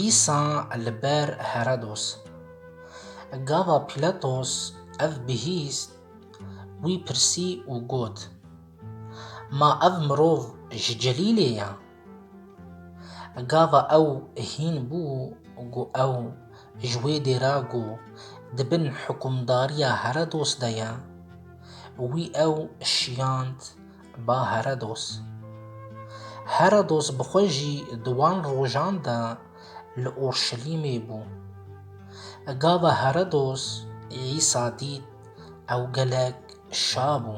Îsa li ber Herodos. Gava Pîlatos ev bihîst, wî pirsî û got, Ma ev mirov ji Celîlê ye? Gava ew hîn bû ku ew ji wê dêra ku di bin hikumdariya Herodos de ye, wî ew şiyand Ba Herodos Herodos bi xwe jî di wan rojan de li Urşelîmê bû. Gava Herodos Îsa dît ew gelek şa bû.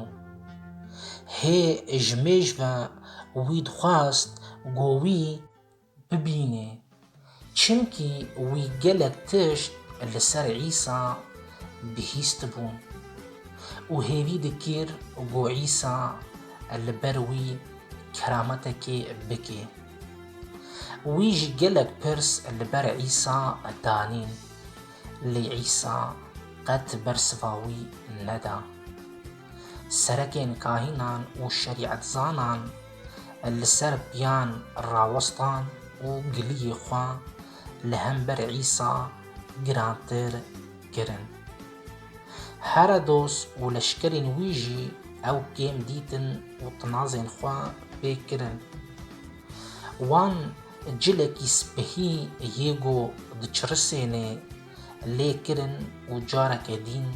Hê ji mêj ve wî dixwest ku wî bibînê, çimkî wî gelek tişt li ser Îsa bihîstibûn û hêvî dikir ku Îsa li ber wî kerametekê bike. Wî jî gelek pirs li ber Îsa danîn, lê Îsa qet bersiva wî neda. Serekên kahînan û şerîetzanan, li ser piyan rawestan û giliyê xwe li hember Îsa girantir kirin. Herodos û leşkerên wî jî ew kêm dîtin û tinazên xwe pê kirin. Wan cilekî spihî yê ku diçirisênê lê kirin û careke dîn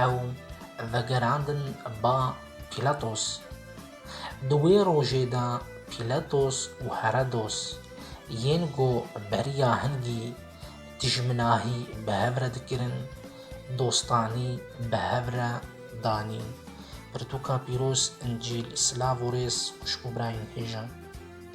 ew vegerandin ba Pîlatos. Di wê rojê de Pîletos û Heredos yên ku beriya hingî dijminahî bi hev re dikirin, dostanî bi hev re danîn. Pirtûka pîroz, Încîl, silav û rêz xwişk û birayên hêjan.